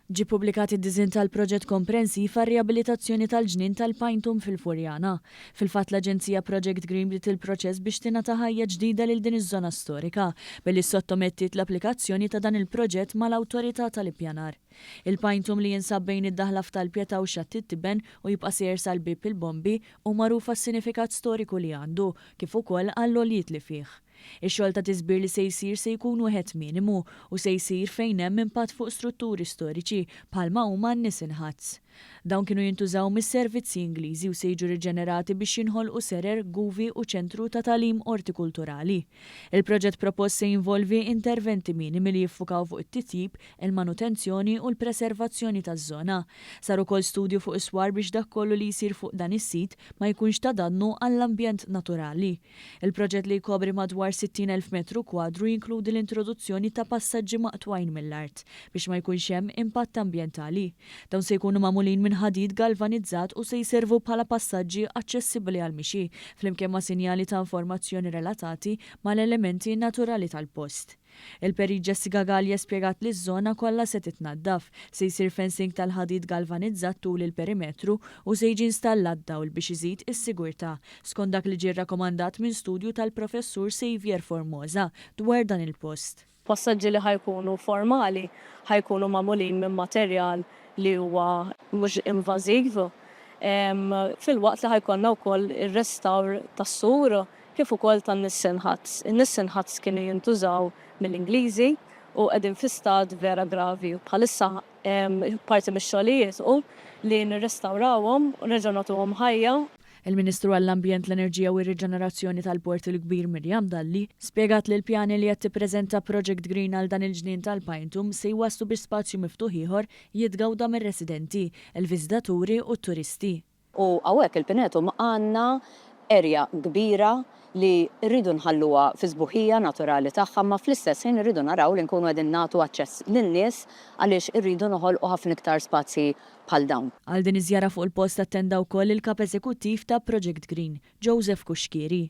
Ġie ppubblikat id-disinn tal-proġett komprensiv għar-riabilitazzjoni tal-ġnien tal-Pine Tomb fil-Furjana. Fil-fatt l-aġenzija Project Green bdiet il-proċess biex tingħata ħajja ġdida lil din iż-żona storika billi ssottomettiet l-applikazzjoni ta' dan il-proġett mal-Awtorità tal-Ippjanar. Il-Pine Tomb li jinsab bejn id-daħla f'Tal Pietà u Xatt it-Tiben u jibqa' sejjer sal-Bieb il-Bombi hu magħruf għas-sinifikat storiku li għandu kif ukoll għall-għoljiet li fih. Ix-xogħol ta' tiżbir li se jsir se jkun wieħed minimu u se jsir fejn hemm impatt fuq strutturi storiċi bħalma huma n-Nissen Huts. Dawn kienu jintużaw mis-servizzi Ingliżi u se jiġu riġenerati biex jinħolqu serer, guvi u ċentru ta' tagħlim ortikulturali. Il-proġett propost se jinvolvi interventi minimi li jiffukaw fuq it-titjib, il-manutenzjoni u l-preservazzjoni taż-żona. Sar ukoll studju fuq is-swar biex dak kollu li jsir fuq dan is-sit ma jkunx ta' dannu għall-ambjent naturali. Il-proġett li jkopri madwar 60,000 metru kwadru jinkludi l-introduzzjoni ta' passaġġi maqtugħin mill-art biex ma jkunx hemm impatt ambjentali. Dawn se jkunu magħmulin minn ħadid galvanizzat u se jservu bħala passaġġi aċċessibbli għall-mixi, flimkien ma' sinjali ta' informazzjoni relatati mal-elementi naturali tal-post. Il-Perit Jessica Galea spjegat li ż-żona kollha se titnaddaf, se jsir fencing tal-ħadid galvanizzat tul il-perimetru u se jiġi installat dawl biex iżid is-sigurtà, skont dak li ġie rrakomandat minn studju tal-Professur Saviour Formosa dwar dan il-post. Passaġġi li ħa jkunu formali ħa jkunu magħmulin minn materjal li huwa mhux invażiv, filwaqt li ħa jkollna wkoll ir-restawr tas-sur, kif ukoll tan-Nissen Huts. In-Nissen Huts kienu jintużaw mill-Ingliżi u qegħdin fi stat vera gravi u bħalissa parti mix-xogħlijiet hu li nirrestawrawhom u nerġgħu nagħtuhom ħajja. Il-Ministru għall-Ambjent, l-Enerġija u r-Riġenerazzjoni tal-Port il-Kbir Miriam Dalli spjegat li l-pjani li qed tippreżenta Project Green għal dan il-ġnien tal-Pinetone se jwasslu biex spazju miftuħ ieħor jitgawda mir-residenti, il-viżitaturi u t-turisti. U hawnhekk il-Pinetum għandna erja kbira li rridu nħalluha fis-sbuħija naturali tagħha imma fl-istess ħin irridu naraw li nkunu qegħdin nagħtu aċċess lin-nies għaliex irridu noħolqu ħafna iktar spazji bħal dawn. Għal din iż-żjara fuq il-post attenda wkoll il-Kap Eżekuttiv ta' Project Green, Joseph Cuschieri.